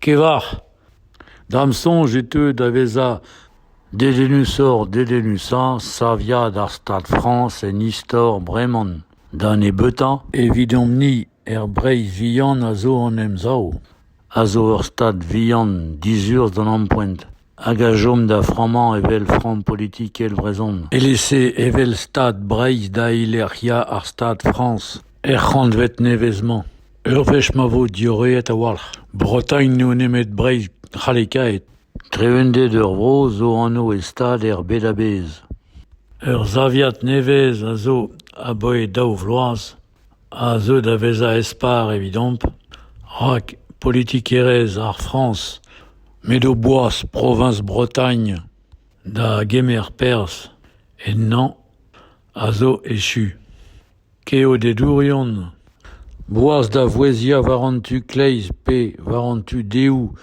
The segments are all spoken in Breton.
Kevañ. Da'm soñj e teu da vezañ dedennusoc'h dedennusañ saviad ar Stad Frañs en istor breman da nebeutañ evidomp-ni er Breizh vihan a zo hon emsav, a zo ur Stad vihan dizurzh d'an ampoent. hag a chom da frammañ evel framm politikel brezhon, e-lese evel Stad Breizh da eilec'hiañ ar Stad Frañs er c'hantved nevez-mañ. Ur wech ma vo diorreet a-walc'h Bretagne n'eo nemet Breizh c'hallekaet. Trevended ur vro zo anv e stad er bed a-bezh. Ur saviad nevez a zo abaoe daou vloaz. a zeu da vezañ espar evidomp, rak politikerezh ar Frañs m'edo boas proviñs Bretagne da gemer perzh ennañ a zo echu. Keodedourion, boas da vouezhiañ war an tu kleiz pe war an tu dehoù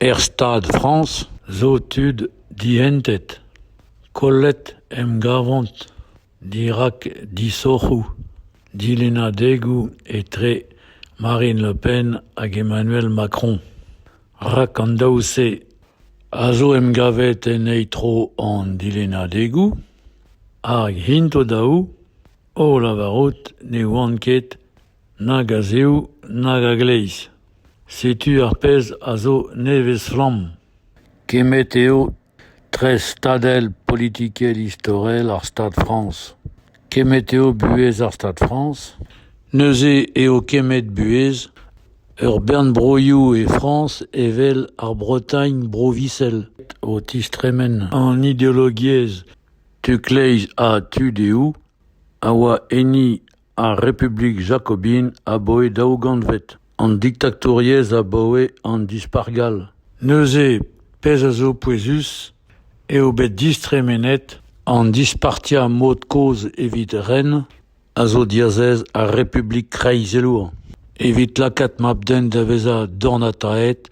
er Stad Frañs zo tud dihentet. Kollet 'm gavont. Dirak disoc'hoù dilennadegoù etre Marine Le Pen hag Emmanuel Macron. Rak an daou-se a zo emgavet en eil tro an dilennadegoù hag int o-daou o lavarout ne oant ket nag a-zehoù nag a-gleiz. Setu ar pezh a zo nevez-flamm. Kemmet eo Tre stadel politikel istorel ar Stad Frañs. Kemmet eo buhez ar Stad Frañs. Neuze eo kemmet buhez ur bern broioù e Frañs evel ar Bretagne Bro-Visel o tistremen an ideologiezh tu-kleiz ha tu-dehou a oa enni Ar Republik jakobin abaoe daou gantved, an diktatouriezh abaoe an Dispac'h gall. Neuze, pezh a zo pouezus, eo bet distremenet an dispartiañ mod-kozh evit ren a zo diazez ar Republik kreizelour, evit lakaat mab-den da vezañ dornataet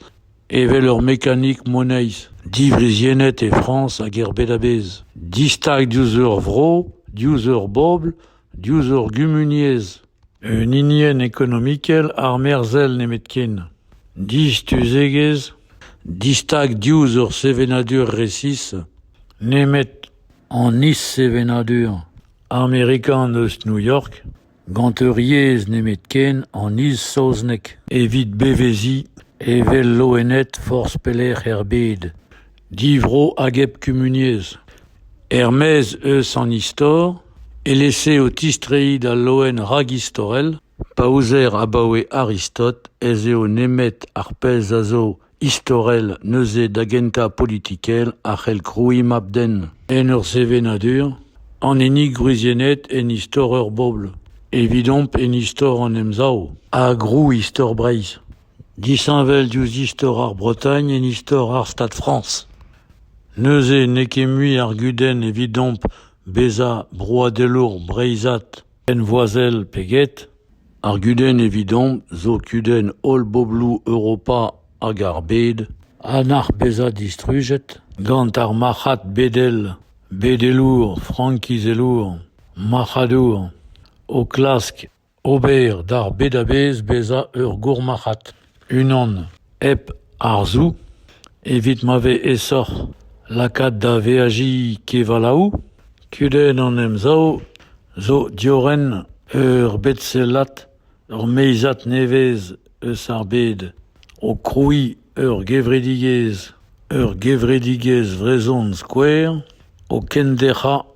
evel ur mekanik moneiz, diwriziennet e Frañs hag er bed a-bezh, distag diouzh ur vro, diouzh ur bobl diouzh hor gumuniezh, un hinienn ekonomikel armerzhel nemetken, distuzegezh, distag diouzh hor sevenadur resis, nemet an is-sevenadur amerikan eus New York, gant ur yezh nemetken an is-saozneg evit beveziñ evel loened forzh pelec'h er bed. Divro hag hep kumuniezh. Er-maez eus an istor, e-lese o tistreiñ d'al loen ragistorel, pa ouzer abaoe Aristote ez eo nemet ar pezh a zo istorel neuze da gentañ politikel a c'hell krouiñ mab-den en ur sevenadur, an hini gwriziennet en istor ur bobl, evidomp en istor an Emsav ha grouistor Breizh. Disheñvel diouzh istor ar Bretagne en istor ar Stad Frañs. Neuze n'eo ket mui ar gudenn evidomp bezañ broadelour breizhat henvoazel pe get. Ar gudenn evidomp zo kudenn holl bobloù Europa hag ar bed a nac'h bezañ distrujet gant ar marc'had bedel, bedelour, frankizelour, marc'hadour, o klask Ober d'ar bed-a-bezh bezañ ur gourmarc'had, unan hep arzoù, evit ma vez aesoc'h lakaat da veajiñ kevalaoù. Kudenn an Emsav zo diorren ur bed-sellad, ur meizad nevez. eus ar bed, o krouiñ ur gevredigezh, ur gevredigezh vrezhon skouer, o kenderc'hañ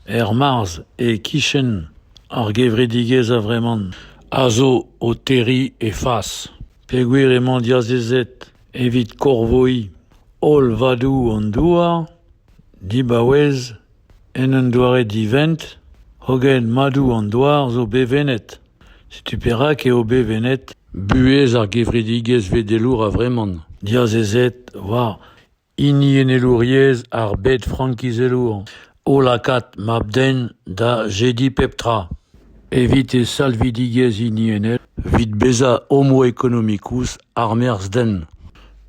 er marzh e-kichen ar gevredigezh a-vremañ, a zo o terriñ he fas peogwir emañ diazezet evit korvoiñ holl vadoù an douar dibaouez en un doare divent hogen madoù an douar zo bevennet. Setu perak eo bevennet buhez ar gevredigezh vedelour a-vreman, diazezet war hiniennelouriezh ar bed frankizelour, o lakaat mab-den da jediñ pep tra evit e salvidigezh hiniennel, evit bezañ homoekonomikus armerzh-den.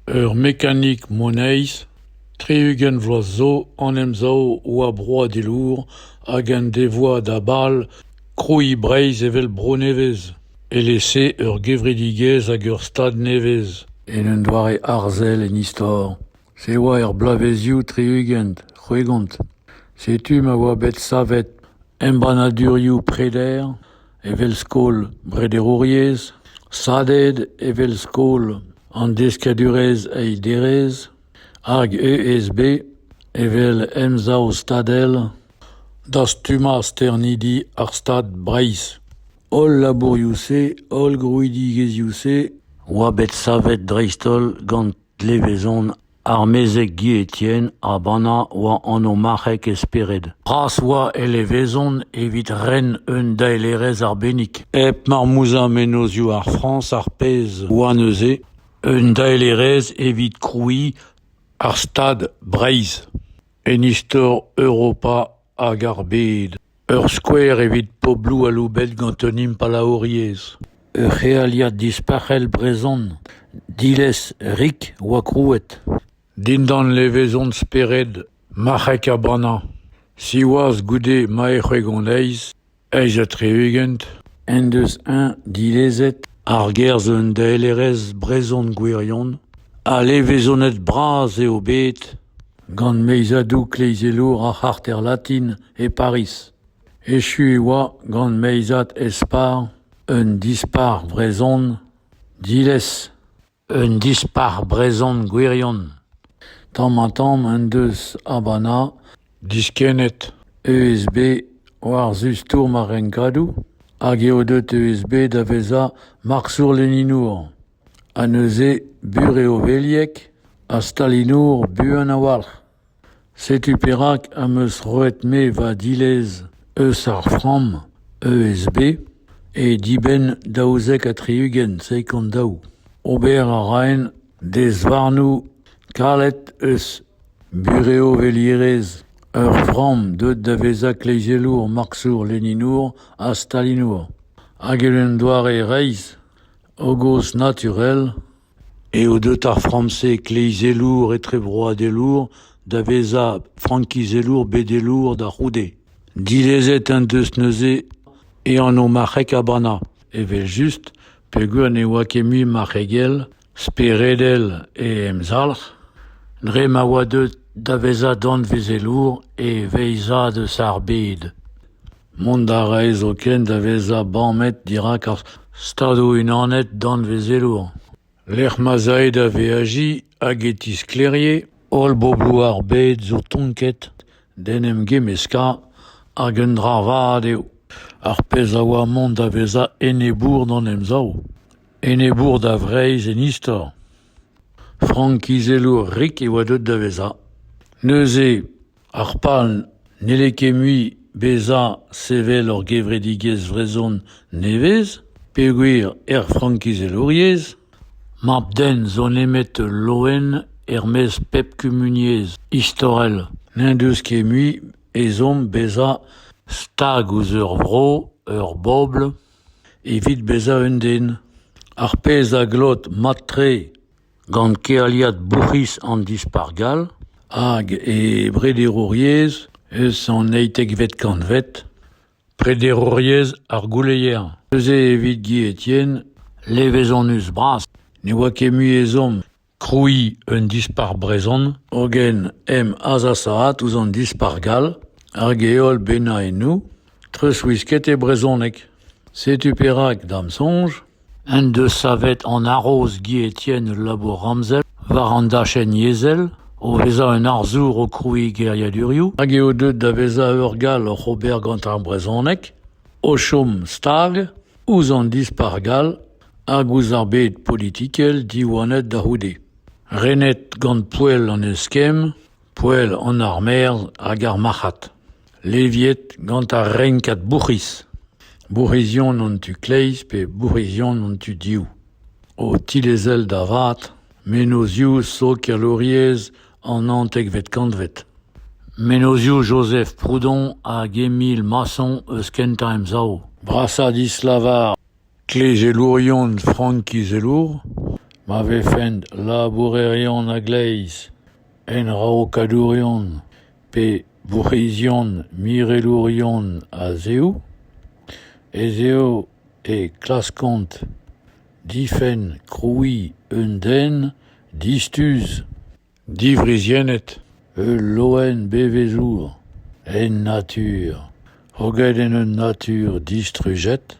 Ur mekanik moneiz, tri-ugent vloaz zo, an Emsav a oa broadelour hag en devoa da bal Krouiñ Breizh evel bro nevez, e-lese ur gevredigezh hag ur stad nevez, en un doare arzel en istor. Se oa er bloavezioù tri-ugent, c'hwegont. Setu ma oa bet savet embannadurioù preder evel skol brederouriezh, SADED evel skol an deskadurezh eil derez, hag ESB evel emsav stadel. Dastummañ sternidi ar Stad Breizh. Holl labourioù-se, holl grouidigezhioù-se oa bet savet dreist-holl gant levezon ar mezeg Guy Etienne ha bannañ oa anv-marc'heg e spered. Bras oa e levezon evit ren un daelerezh arbennik. Hep marmouzhañ mennozioù ar Frañs ar pezh oa neuze un daelerezh evit krouiñ ar Stad Breizh. En istor Europa hag ar bed, ur skouer evit pobloù aloubet gant un impalaouriezh. Ur c'healiad dispac'hel brezhon, diles rik oa krouet. Dindan levezon spered, marc'hek ha bannañ. Siwazh goude ma ec'h eo hon aez, Eizh ha tri-ugent en deus eñ dilezet argerzh un daelerezh brezhon gwirion ha levezonet bras eo bet gant meizadoù kleizelour ar c'harter latin e Pariz. Echu e oa gant meizad espar un dispac'h vrezhon diles. Un dispac'h brezhon gwirion. Tamm-ha-tamm en deus Habana diskennet ESB war-zu stourm ar renkadoù hag eo deuet ESB da vezañ marsour-leninour. Ha neuze bur eo Velieg ha stalinour buan a-walc'h. Setu perak am eus roet-me va dilez eus ar framm ESB e dibenn daouzek ha tri-ugent sekund daou. Ober a raen dezvarnoù kalet eus burev-velierezh ur framm deuet da vezañ kleizelour marksour-leninour ha stalinour. Hag en un doare reizh, hogos naturel, Eo deut ar framm-se kleizelour etrebroadelour da vezañ frankizelour bedelour da c'houde. Dilezet en deus neuze e anv marc'heg Habana, evel-just peogwir ne oa ket mui marc'hegel speredel e emzalc'h, dre ma oa deut da vezañ danvezelour e veizad eus ar bed. Mont a rae zoken da vezañ bamet dirak ar Stadoù-Unanet danvezelour, lec'h ma'z ae da veajiñ hag e tisklêrie holl bobloù ar bed zo tonket d'en em gemmeskañ hag un dra vat eo ar pezh a oa mont da vezañ enebour d'an Emsav, enebour da Vreizh en istor. Frankizelour rik e oa deuet da vezañ. Neuze Ar pal n'helle ket mui bezañ sevel ur gevredigezh vrezhon nevez peogwir er frankizelouriezh mab-den zo nemet ul loen er-maez pep kumuniezh istorel n'en deus ket mui ezhomm bezañ stag ouzh ur vro, ur bobl evit bezañ un den. Ar pezh a glot mat-tre gant kealiad bourc'hiz an Dispac'h gall hag e brederouriezh eus an eizhtekvet kantved, prederouriezh ar gouleier. Neuze evit Guy Etienne, levezonus-bras ne oa ket mui ezhomm krouiñ un dispac'h brezhon, hogen em azasaat ouzh an Dispac'h gall hag e holl bennaennoù treuzwisket e brezhoneg. Setu perak, da'm soñj, en deus savet an haroz Guy Etienne ul labour ramzel war an dachenn yezhel o vezañ un arzour o krouiñ geriadurioù hag eo deuet da vezañ ur gall oc'h ober gant ar brezhoneg o chom stag ouzh an dispac'h gall hag ouzh ar bed politikel diwanet da c'houde. Renet gant poell an eskemm Poell an armerzh hag ar marc'had, leviet gant ar renkad bourc'hiz, bourc'hizion an tu-kleiz pe bourc'hizion an tu-div, o tilezel da vat mennozioù sokialouriezh an naontekvet kantved, mennozioù Joseph Proudhon hag Émile Masson eus Kentañ Emsav, brasañ dislavar Klegelourion frankizelour ma vefent labourerion a-gleiz, enraokadourion pe bourc'hizion mirelourion a-zehoù ez eo e klaskont difenn krouiñ un den distuz. Diwriziennet, ul loen bevezour en natur, hoget en un natur distrujet,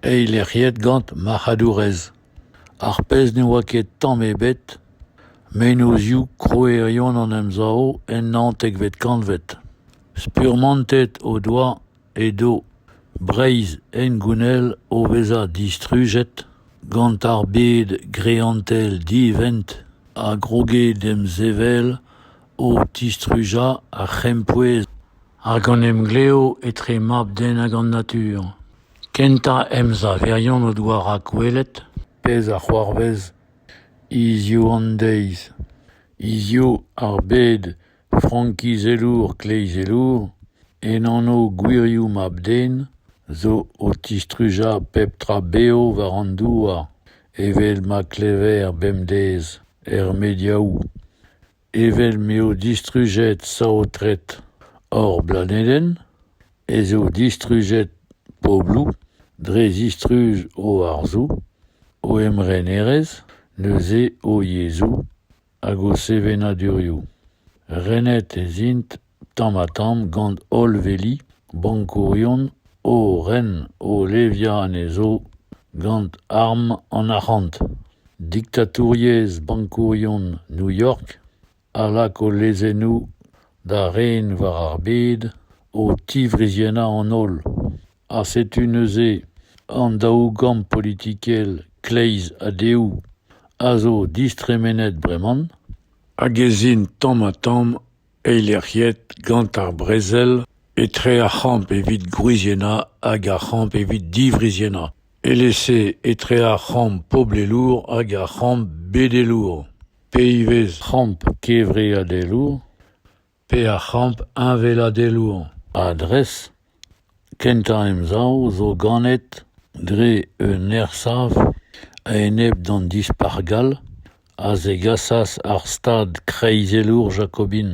eilec'hiet gant marc'hadourezh. Ar pezh ne oa ket tamm ebet, mennozhioù krouerion an Emsav en naontekvet kantved. Spurmantet o doa edo Breizh hengounel o vezañ distrujet gant ar bed greantel divent a groge demsevel o tistrujañ ar c'hempouez hag an emglev etre mab-den hag an natur. Kentañ emsaverion o doa rakwelet pezh a c'hoarvez hiziv an deiz. Hiziv ar bed Frankizelour kleizelour, en anv gwirioù mab-den, zo o tistrujañ pep tra bev war an douar, evel ma klever bemdez er mediaoù, evel m'eo distrujet saotret hor blanedenn, ez eo distrujet pobloù dre zistruj o arzoù, o emrenerezh, neuze o yezhoù, hag o sevenadurioù. Renet ez int tamm-ha-tamm gant holl veli bankourion o ren o leviañ anezho gant arm an arc'hant. Diktatouriezh bankourion New-York a lak o lezennoù da ren war ar bed o tiwriziennañ an holl. ha setu neuze an daou gamm politikel kleiz ha dehoù a zo distremenet breman hag ez int tamm-ha-tamm eilec'hiet gant ar brezel etre ar c'hamp evit gwriziennañ hag ar c'hamp evit diwriziennañ eles-se etre ar c'hamp poblelour hag ar c'hamp bedelour pe ivez c'hamp kevreadelour pe ar c'hamp heñveladelour. Adres kentañ emsav zo ganet dre un ersav a-enep d'an Dispac'h gall a zegasas ar stad kreizelour jakobin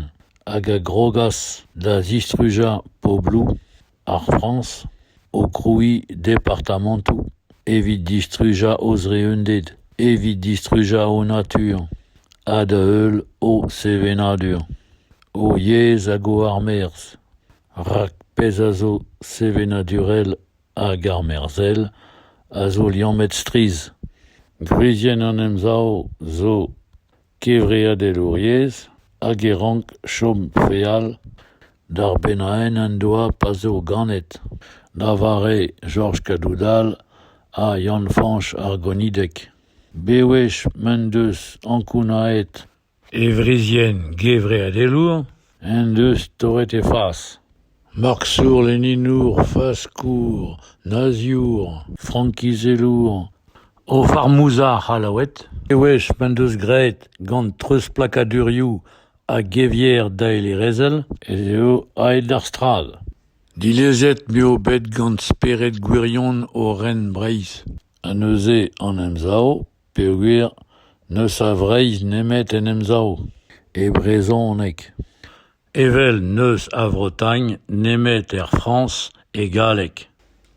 hag a grogas da zistrujañ pobloù. Ar Frañs o krouiñ departamantoù evit distrujañ o zreunded, evit distrujañ o natur ha da-heul o sevenadur, o yezh hag o armerzh. Rak pezh a zo sevenadurel hag armerzhel a zo liammet strizh. Gwrizienn an Emsav zo Kevreadelouriezh hag e rank chom feal d'ar bennaenn en doa pa zo ganet, da vare Jorj Kadoudal ha Yann-Fañch ar Gonideg. Bewech m'en deus ankounaet e wrizienn gevreadelour en deus torret he fas. Maksour leninour, faskour, naziour, frankizelour, o farmouzha c'hallaoued, e wech m'en deus graet gant treuzplakadurioù ha gevier daelerezhel ez eo aet d'ar strad. Dilezet m'eo bet gant spered gwirion o ren Breizh ha neuze an Emsav peogwir n'eus a Vreizh nemet en Emsav, e brezhoneg. Evel n'eus a Vretagne nemet er Frañs e galleg.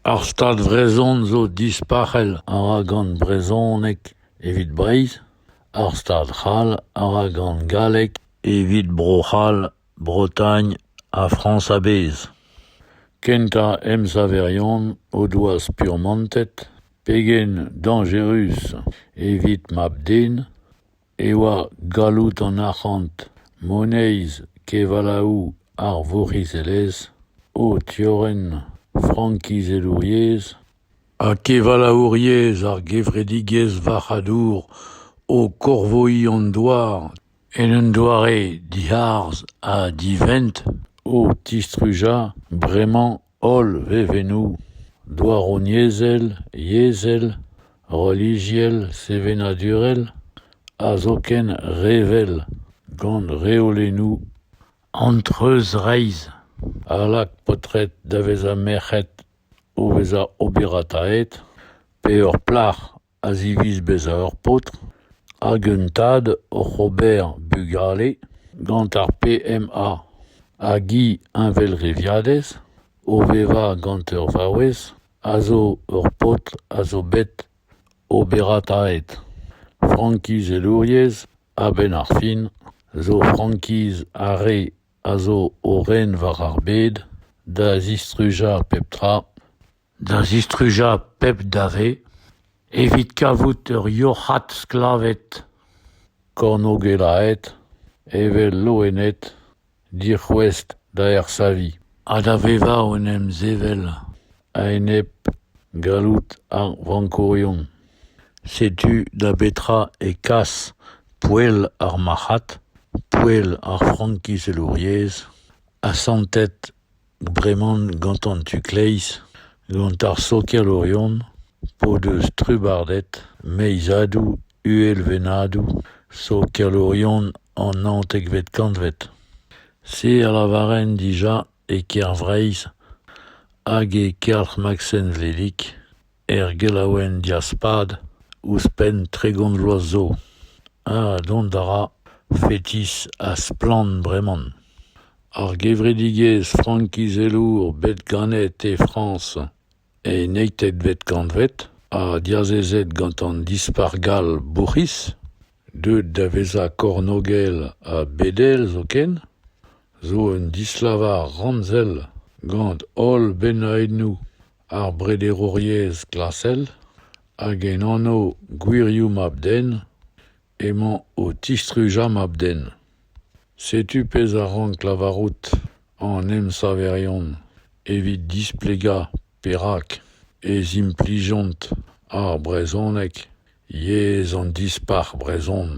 Ar Stad vrezhon zo dispac'hel a ra gant brezhoneg evit Breizh, ar Stad c'hall a ra gant galleg evit Bro-C'hall, Bretagne ha Frañs a-bezh. Kentañ emsaverion o doa spurmantet pegen dañjerus evit mab-den e oa galloud an arc'hant, moneiz, kevalaoù ar vourc'hizelezh, o tiorren frankizelouriezh ha kevalaouriezh ar gevredigezh varc'hadour o korvoiñ an douar en un doare diharzh ha divent, o tistrujañ bremañ Holl vevennoù, douaroniezhel, yezhel, relijiel, sevenadurel ha zoken revel, gant reolennoù antreuzreizh, a lak paotred da vezañ merc'hed o vezañ oberataet pe ur plac'h. a ziviz bezañ ur paotr hag un tad oc'h ober bugale gant ar PMA hag he heñvelreviadez o vevañ gant ur vaouez a zo ur paotr a zo bet oberataet. Frankizelouriezh a-benn ar fin zo frankiz ar re a zo o ren war ar bed da zistrujañ pep tra. da zistrujañ pep dave evit kavout ur yoc'had sklaved kornôgelaet evel loened dic'houest da ersaviñ ha da vevañ en em sevel a-enep galloud ar vankourion. Setu da betra e kas poell ar marc'had, poell ar frankizelouriezh asantet Breman gantan tu-kleiz, gant ar sokialourion p'o deus trubardet meizadou uhelvennadou sokialourion an naontekvet kantved. Se a lavaren dija e Kêr-Vreiz hag e Kelc'h Maksen Vedig. Er gelaouenn Diaspad, ouzhpenn tregont vloaz zo, ha dont a ra fetis ha splann breman. Ar gevredigezh frankizelour bet ganet e Frañs e eizhtvet kantved ha diazezet gant an Dispac'h gall bourc'hiz, deuet da vezañ kornôgel ha bedel zoken, zo un dislavar ramzel gant holl bennoennoù ar brederouriezh klasel hag en anv gwirioù mab-den emañ o tistrujañ mab-den. Setu pezh a rank lavarout an emsaverion evit displegañ perak ez implijont ar brezhoneg yezh an dispac'h brezhon,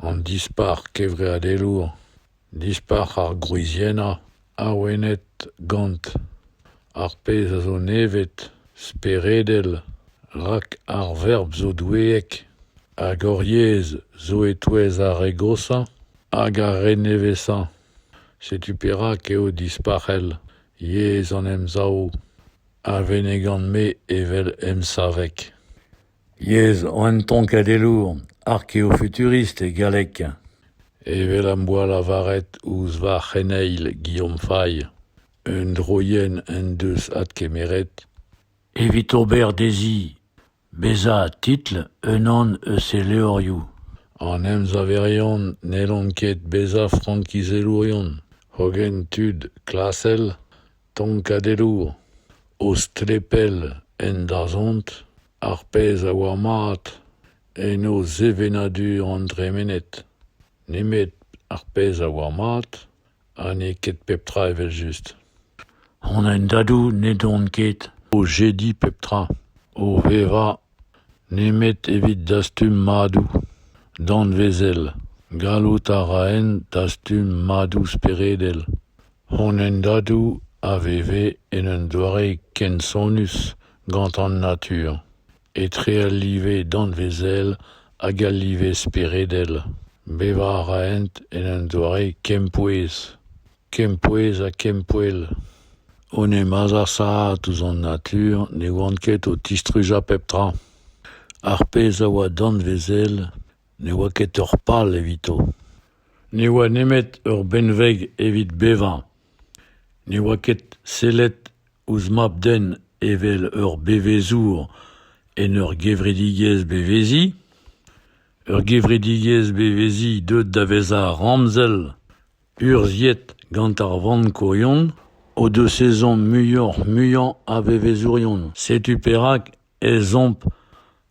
an dispac'h kevreadelour. Dispac'h ar gwriziennañ awenet gant ar pezh a zo nevet, speredel, rak ar verb zo doueek, hag hor yezh zo e-touez ar re goshañ hag ar re nevesañ. Setu perak eo dispac'hel yezh an Emsav a vennegan-me evel emsaveg. Yezh an tonkadelour, arkeofuturist e galleg. Evel am boa lavaret ouzh va c'heneil Guillaume Faye, un droienn en deus adkemeret evit ober dezhi bezañ titl unan eus he levrioù. An emsaverion n'hellont ket bezañ frankizelourion, hogen tud klasel. tonkadelloù o strepell en dazont ar pezh a oa mat en o sevenadur an dremened nemet ar pezh a oa mat ha n'eo ket pep tra evel-just. An hendadoù n'edont ket o jediñ pep tra, o vevañ Nemet evit dastum madoù danvezel. Gallout a raent dastum madoù speredel. Honendadoù a veve en un doare kensonus gant an natur, etre al live danvezel hag al live speredel. Bevañ a raent en un doare kempouez. Kempouez ha kempoell. Hon emañ azasaet ouzh an natur ne oant ket o tistrujañ pep tra. Ar pezh a oa danvezel ne oa ket ur pal evito. Ne oa nemet ur benveg evit bevañ. Ne oa ket sellet ouzh mab-den evel ur bevezour en ur gevredigezh beveziñ. Ur gevredigezh beveziñ deuet da vezañ ramzel. Urzhiet gant ar vankourion o deus ezhomm muioc'h-muiañ a vevezourion. Setu perak ez omp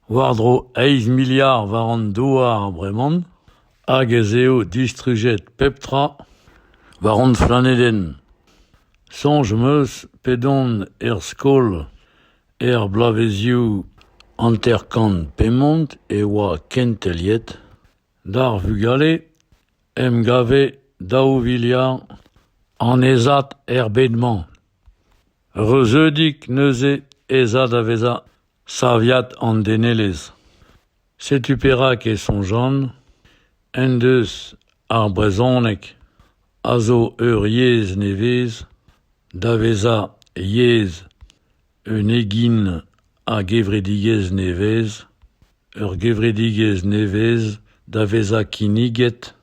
war-dro eizh miliard war an douar breman hag ez eo distrujet pep tra war hon planedenn. Soñj 'm eus p'edon er skol er bloavezioù hanter-kant pemont e oa kenteliet. D'ar vugale 'n em gave daou viliard annezad er bed-mañ. Reuzeudik neuze ez a da vezañ saviad an denelezh. Setu perak e soñjan en deus ar brezhoneg a zo ur yezh nevez da vezañ yezh Un egin a gevredigezh nevez, ur gevredigezh nevez da vezañ kinniget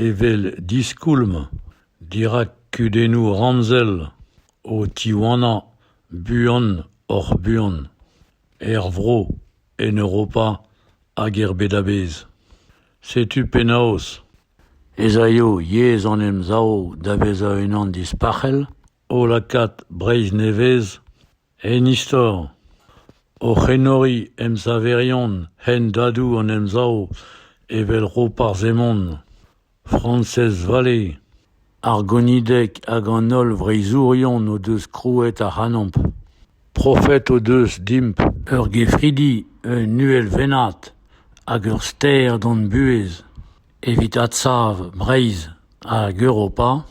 evel diskoulm dirak kudennoù ramzel o tiwanañ buan-oc'h-buan er vro, en Europa hag er bed a-bezh. Setu penaos ez aio yezh an Emsav da vezañ unan dispac'hel. o lakaat Breizh Nevez en istor, oc'h enoriñ emsaverion hendadoù an Emsav evel Roparz Hemon, Frañsez Vallée, ar gonideg hag an holl vreizhourion o deus krouet ac'hanomp. Profet o deus dimp ur gefridi, un uhelvennad hag ur ster d'hon buhez. Evit adsav Breizh hag Europa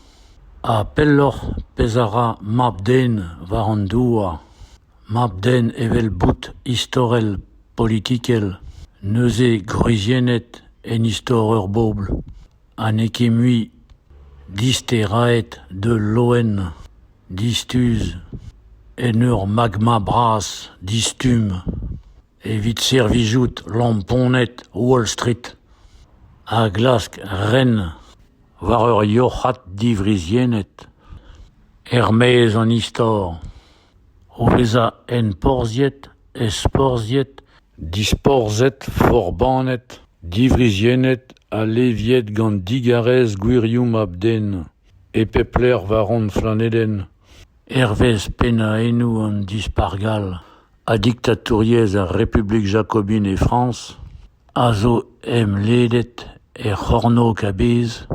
ha pelloc'h pezh a ra mab-den war an douar, mab-den evel boud istorel politikel, neuze gwriziennet en istor ur bobl ha n'eo ket mui disteraet d'ul loen distuz en ur magma bras, distumm. Evit servijout lamponed Wall Street a glask ren war ur yoc'had diwriziennet er-maez an istor, o vezañ enporzhiet, ezporzhiet, disporzhet, forbannet, diwriziennet ha leviet gant digarez gwirioù mab-den e pep lec'h war hon planedenn. hervez pennaennoù an Dispac'h gall ha diktatouriezh ar Republik jakobin e Frañs, a zo emledet er C'hornôg a-bezh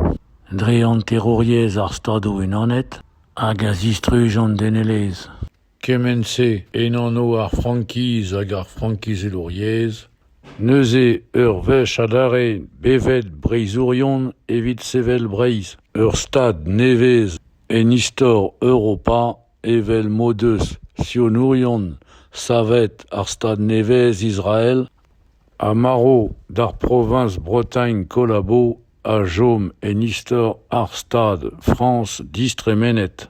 dre hanterouriezh ar Stadoù-Unanet hag a zistruj an denelezh. Kement-se, en anv ar Frankiz hag ar frankizelouriezh, neuze ur wech adarre bevet breizhourion evit sevel Breizh, ur stad nevez. En istor Europa, evel m'o deus sionourion savet ar Stad nevez Israel ha marv d'ar proviñs Bretagne Collabo a chom en istor ar Stad Frañs distremenet.